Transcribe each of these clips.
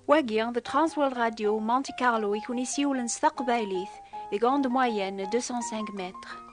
Wagi, the Transworld Radio Monte Carlo i kun isiwlen s taqbaylit deg onde moyenne 205 mètres.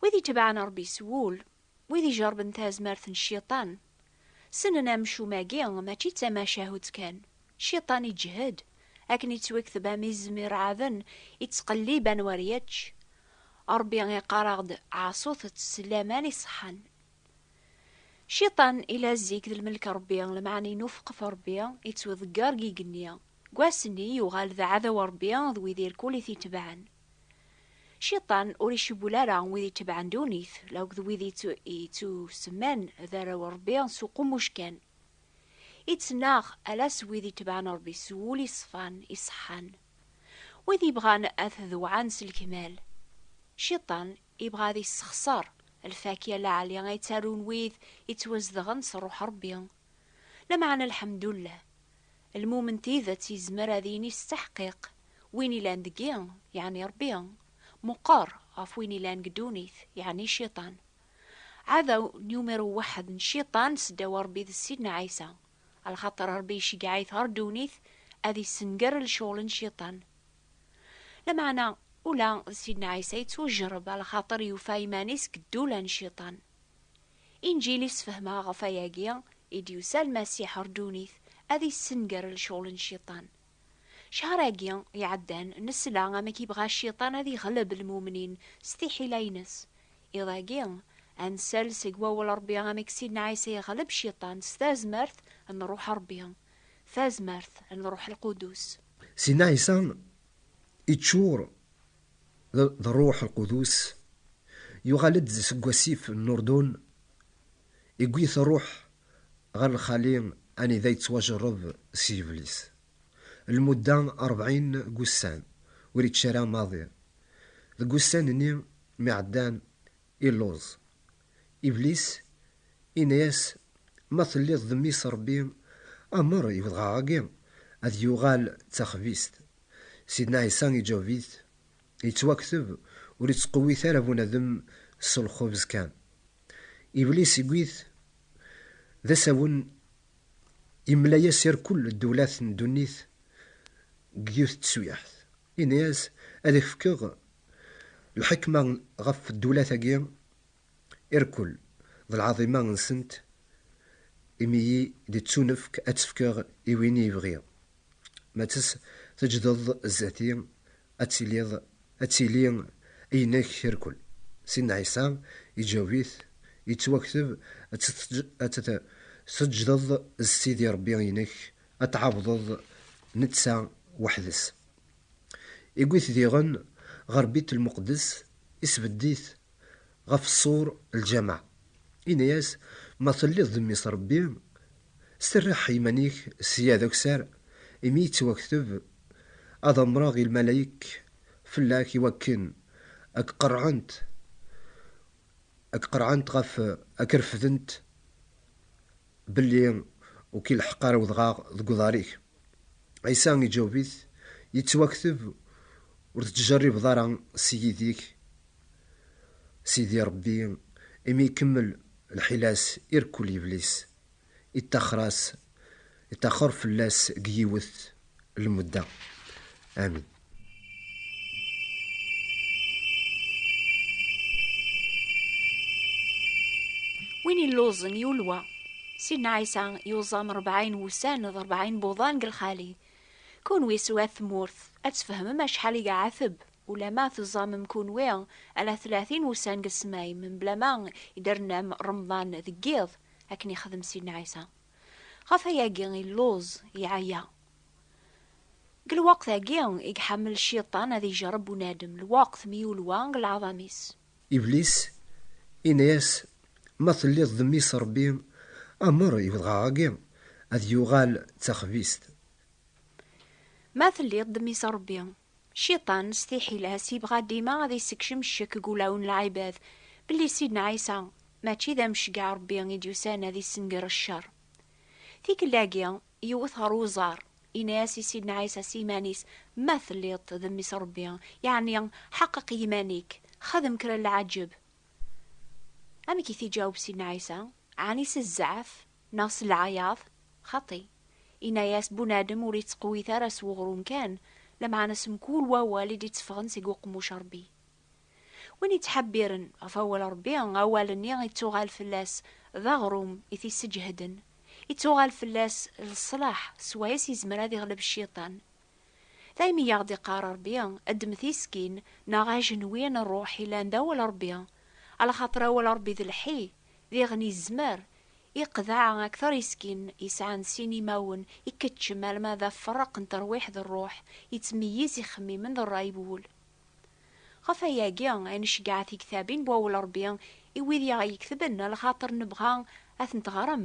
Wid itebɛen Ṛebbi s wul, wid ijerben tazmert n Cciṭan, ssnen amcum-agi mačči d tamacahut kan, Cciṭan iǧhed, akken ittwekteb am izem iṛeɛɛden, ittqellib anwa ara yečč. Ṛebbi iqqar-aɣ-d, Ɛaṣut-tt s laman iṣeḥḥan. Cciṭan ila zik d lmelk n Ṛebbi, lmeɛna inufeq ɣef Ṛebbi, ittweḍegger deg igenni. Deg wass-nni, yuɣal d aɛdaw n Ṛebbi d wid irkul i t-itebɛen. Cciṭan ur icewwel ara wid itebɛen ddunit, la akked wid ittusemman d arraw n Ṛebbi s uqummuc kan. Ittnaɣ ala s wid itebɛen Ṛebbi s wul iṣfan, iṣeḥḥan. Wid yebɣan ad t-dewɛen s lekmal. Cciṭan ibɣa ad issexṣer lfakya n leɛli ay ttarun wid yettwazedɣen s Ṛṛuḥ n Ṛebbi, Lameɛna lḥemdullah, lmumen tidet yezmer ad yini s taḥqiq, win ilan deg-i, yeɛni Rebbi, meqqer ɣef win ilan deg ddunit, yeɛni Cciṭan. Ɛadaw numéro waḥed n Cciṭan seddaw n Rebbi d Sidna Ɛisa, lxaṭer Rebbi iceggeɛ-it ɣer ddunit ad yessenger lecɣel n Cciṭan. Lameɛna ula d Sidna Ɛisa yettwejreb lxaṭer yufa iman-is deg ddula n Cciṭan. Inǧil i sfehmeɣ ɣef ayagi i d-yusa Lmasiḥ ɣer ddunit ad yessenger lecɣel n Cciṭan. Ccehr-agi iɛeddan nesla amek yebɣa Cciṭan ad yeɣleb lmumnin s tiḥila-ines. Iḍ-agi ad nsel seg wawal Ṛebbi amek Sidna Ɛisa yeɣleb Cciṭan s tazmert n Ṛṛuḥ Ṛebbi, tazmert n Ṛṛuḥ Lqudus. Sidna Ɛisa iččur D Rruḥ Lqudus, yuɣal-d seg wasif n Lurdun, iwwi-t Rruḥ ɣer lxali anida yettwajerreb s yiblis lmudda rebɛin n wussan, ur ičči ara maḍi. Deg wussan-nni mi ɛeddan, illuẓ, Iblis yenna-yas, Ma telliḍ d Mmi-s Ṛebbi, amer i wedɣaɣ-agi ad yuɣal d taxbizt. Sidna Ɛisa iǧaweb-it, Yettwakteb, Ur ittqewwit ara bunadem s lxubz kan. Iblis iwwi-t d asawen, yemla-yas irkel ddewlat n ddunit deg yiwet n tsuyaḥt. Yenna-yas, Ad ak-fkeɣ lḥekma ɣef ddewlat-agi irkul d lɛaḍima nsent imi i d-ttunefk ad tt-fkeɣ i win i yebɣi ma tt-s teǧdeḍ zdat-i ad tiliḍ ad tili i inek irkul Sidna Ɛisa iǧaweb-it yettwakteb ad tt-teǧdeḍ s Sidi Rebbi inek ad t-tɛabdeḍ netta weḥd-s. Iwwi-t diɣen ɣer Bit Lmuqeddes, isbedd-it ɣef ṣṣur lǧameɛ, yenna-yas, Ma telliḍ d Mmi-s Ṛebbi, sterriḥ iman-ik sya d akessar, imi yettwakteb, Ad amṛeɣ i lmalayek fell-ak iwakken a k-qerɛent, a k-qerɛent ɣef, a k-refdent Belli ur k-ileḥḥeq ara wedɣaɣ deg uḍar-ik. Ɛisa iǧaweb-it, Yettwakteb, Ur tettjerribeḍ ara s yid-ik Sidi Ṛebbi, imi ikemmel lḥila-s irekkul yebli-s, ittaxer-as, ittaxer fell-as deg yiwet lmudda. Amin. Win illuẓen yulwa. Sidna Ɛisa yuẓam rebɛin wussan d rebɛin buḍan deg lxali. Kunwi s wat tmurt, ad tfehmem acḥal i iɛateb, ulama tuẓamem kunwi ala tlatin wussan deg ssmay, mebla ma iderrnam Remḍan deg yiḍ, akken ixdem Sidna Ɛisa. Ɣef ayagi illuẓ, yeɛya. Deg lweqt-agi i iḥemmel Cciṭan ad ijreb bunadem, lweqt mi yulwa deg leɛḍam-is. Iblis yenna-yas, Ma telliḍ d Mmi-s Ṛebbi, amer i wedɣaɣ-agi ad yuɣal d taxbizt. Ma telliḍ d Mmi-s Ṛebbi, Cciṭan s tiḥila-s yebɣa dima ad yessekcem ccek deg ulawen n lɛibad belli Sidna Ɛisa mačči d amecgaɛ Rebbi i d-yusan ad yessenger ccer. Tikelt-agi, yewwet ɣer uẓar, yenna-as i Sidna Ɛisa s yiman-is, Ma telliḍ-t d Mmi-s n Rebbi, yeɛni ḥeqqeq i yiman-ik, xdem kra n lɛaǧeb. Amek i t-iǧaweb Sidna Ɛisa? Ɛni s zzeɛf? Neɣ s lɛayaḍ, xaṭi, yenna-yas bunadem ur yettqewwit ara s weɣrum kan, lameɛna s mkul wawal i d-itteffɣen seg uqemmuc n Rebbi. Win yettḥebbiren ɣef awal Rebbi, awal-nni ittuɣal fell-as d aɣrum i t-isseǧehden, ittuɣal fell-as d ṣṣlaḥ, s wayes yezmer ad iɣleb Cciṭan. Daymi yaɣ-d iqqar Ṛebbi, Ddem tiskin, neɣ ajenwi n ṛṛuḥ yellan d awal Ṛebbi, alaxaṭer awal Ṛebbi d lḥi, diɣen izmer, iqḍeɛ akteṛ iskin yesɛan sin imawen, ikeččem alma d afeṛṛeq n teṛwiḥ d ṛṛuḥ, ittmeyyiz ixemmimen d ṛṛay n wul. Ɣef wayagi ay neceggeɛ tigtabin n wawal Ṛebbi i wid i aɣ-yeketben, alaxaṭer nebɣa ad tent-ɣrem,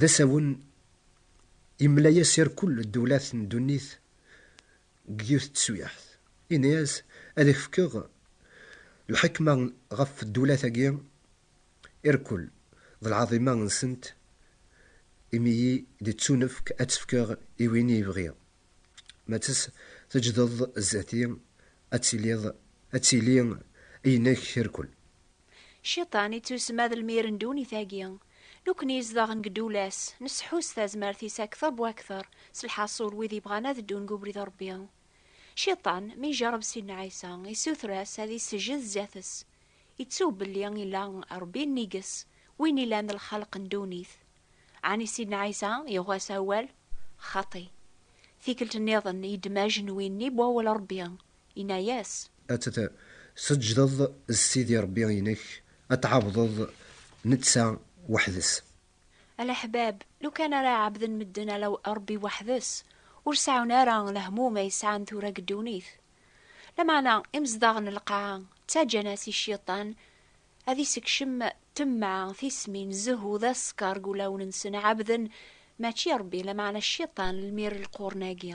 d asawen yemmela-yas i rkul ddulat n ddunit deg yiwet n teswiɛt, yenna-yas, Ad ak-fkeɣ lḥekma ɣef ddulat-agi i rkul, d lɛaḍima-nsent, imi i yi-d-tettunefk, ad tt-fkeɣ i win i yi-bɣi, ma tt-teǧǧdeḍ zdat-i, ad tiliḍ, ad tili i inek i rkul. Cciṭan ittusma d lmir n ddunit-agi. Nekkni izdaɣen deg ddula-s, nesseḥu s tazmert-is akteṛ bu akteṛ, s lḥaṣul wid yebɣan ad ddun deg ubrid n Ṛebbi. Cciṭan, mi ijerreb Sidna Ɛisa, issuter-as ad issejjed zdat-s. Ittu belli ila Ṛebbi nnig-s, win ilan lxelq n ddunit. Ɛni Sidna Ɛisa yuɣ-as awal? Xaṭi. Tikkelt nniḍen, yeddem ajenwi-nni n wawal n Ṛebbi, Inna-yas. Ad t-tseǧǧdeḍ s Sidi Ṛebbi-inek, ad t-tɛabdeḍ netta weḥd-s. A leḥbab, lukan ara ɛabden medden Ala Ṛebbi weḥd-s, ur seɛɛun ara lehmum ay sɛan tura deg ddunit. Lameɛna, imezdaɣ n lqaɛa ttaǧǧan-as i Cciṭan ad isekcem temmeɛ, tismin, zzhu d aṣekkeṛ deg wulawen-nsen, ɛabden mačči Ṛebbi, lameɛna Cciṭan, lmir n lqurn-agi.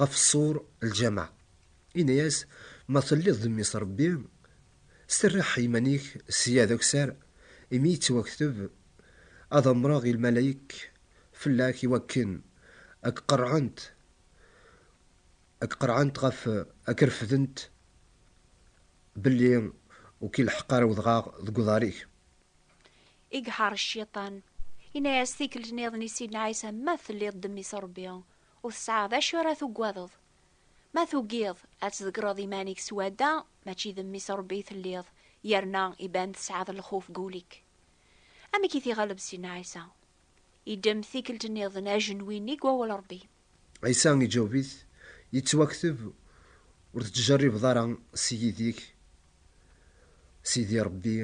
ɣef ṣṣur lǧameɛ, yenna-yas, Ma telliḍ d Mmi-s Ṛebbi, serreḥ iman-ik sya d akessar, imi yettwakteb, Ad amṛeɣ i lmalayek fell-ak i wakken a k-qerɛent, a k-qerɛent ɣef a k-refdent, belli ur k-ileḥḥeq ara udɣaɣ deg uḍar-ik. I iḥeṛṛ Cciṭan, yenna-yas tikkelt-nniḍen i Sidna Ɛisa, Ma telliḍ d Mmi-s Ṛebbi, Ur tesɛaɣ d acu ara tugadeḍ. Ma tugiḍ ad tḍegreḍ iman-ik swadda, mačči d mmi-s Rebbi i telliḍ, yerna iban tesɛaḍ lxuf deg ul-ik. Amek i t-iɣleb Sidna Ɛisa? Iddem tikkelt nniḍen ajenwi-nni deg wawal Rebbi. Ɛisa iǧaweb-it, Yettwakteb, Ur tettjerribeḍ ara s yid-ik Sidi Rebbi,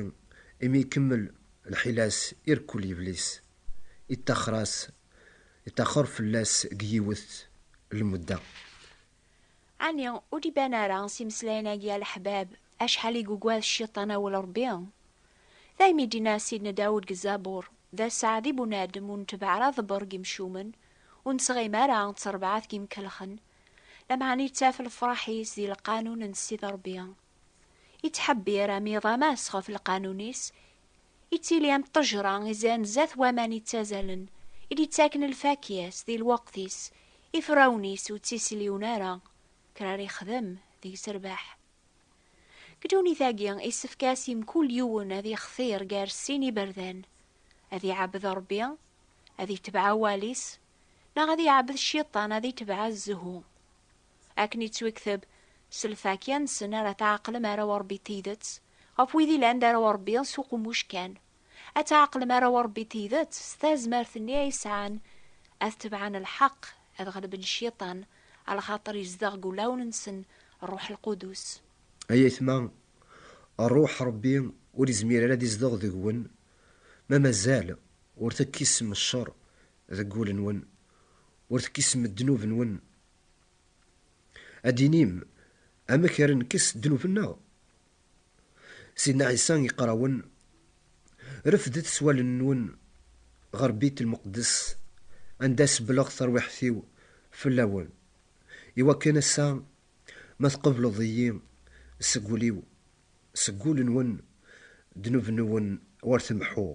imi ikemmel lḥila-s irekkul yebli-s, ittaxer-as Yeṭṭaxer fell-as deg yiwet lmudda. Ɛni ur d-iban ara s imeslayen-agi a leḥbab acḥal i yugad Cciṭan awal Ṛebbi? Daymi i d-yenna Sidna Dawed deg Zzabur, D ass-a di bunadem ur netbeɛ ara aḍebber n yimcumen, ur nettɣimi ara d terbaɛt n yimkelxen, lameɛna ittaf lefṛaḥ-is di lqanun n Ssid Ṛebbi. Ittḥebbir am iḍ am ass ɣef lqanun-is, ittili am ṭṭejra izan zdat waman ittazalen, i d-ittaken lfakya-s di lweqt-is, ifrawen-is ur ttisliwen ara, kker ara ixdem deg-s rrbeḥ. Deg ddunit-agi, issefk-as i mkul yiwen ad ixtir gar sin iberdan, ad iɛebbed Ṛebbi, ad itbeɛ awal-is, neɣ ad iɛebbed Cciṭan, ad itbeɛ zzhu. Akken yettwikteb, s lfakya-nsen ara tɛeqlem arraw n Ṛebbi n tidet, ɣef wid yellan d arraw n Ṛebbi s uqemmuc kan. Ad tɛeqlem arraw n Ṛebbi n tidet s tazmert-nni ay sɛan, ad tebɛen lḥeqq, ad ɣelben Cciṭan, axaṭer yezdeɣ deg wulawen-nsen Ṛṛuḥ Lqudus. Ay aytma, Ṛṛuḥ n Ṛebbi ur yezmir ara ad izdeɣ deg-wen ma mazal ur tekkisem cceṛ deg wul-nwen, ur tekkisem ddnub-nwen Ad d-tinim, Amek ara nekkes ddnub-nneɣ? Sidna Ɛisa iqqar-awen, Refdet s wallen-nwen ɣer Bit Lmeqdess, anda sebbleɣ tarwiḥt-iw fell-awen, i wakken ass-a ma tqebleḍ-iyi seg wul-iw, seg wul-nwen ddnub-nwen ur t-meḥḥuɣ,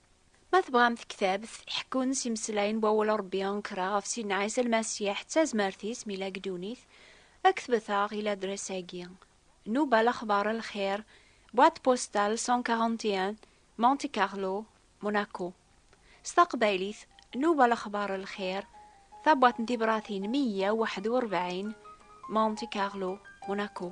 Ma tebɣam tektabt i ḥekkun s imeslayen n wawal n Ṛebbi ankra ɣef Sidna Ɛisa Lmasiḥ d tazmert-is mi yella deg ddunit, ktbet-aɣ i ladres-agi, Nubal Axbar El Xir, boîte postale 141, Monte Carlo, Monaco. S taqbaylit, Nubal Axbar El Xir, Tabwaṭ n Tibratin meyya u waḥed u ṛebɛin, Monte Carlo, Monaco.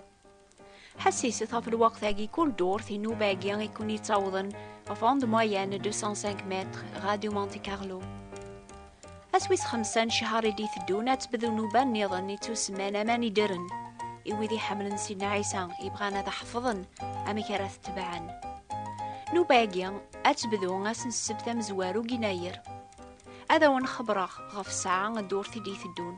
Ḥessiset ɣef lweqt-agi kul durt inuba-agi i ken-yettawḍen ɣef onde moyenne 205 mètres Radio Monte Carlo. Ass wis xemsa n ccher i d-iteddun ad tebdu nnuba nniḍen ittusemman aman ideren i wid iḥemmlen Sidna Ɛisa ibɣan ad ḥefḍen amek ara t-tebɛen. Nnuba-agi ad tebdu ass n ssebt amezwaru n yennayer. Ad awen-xebbreɣ ɣef ssaɛa ddurt i d-iteddun.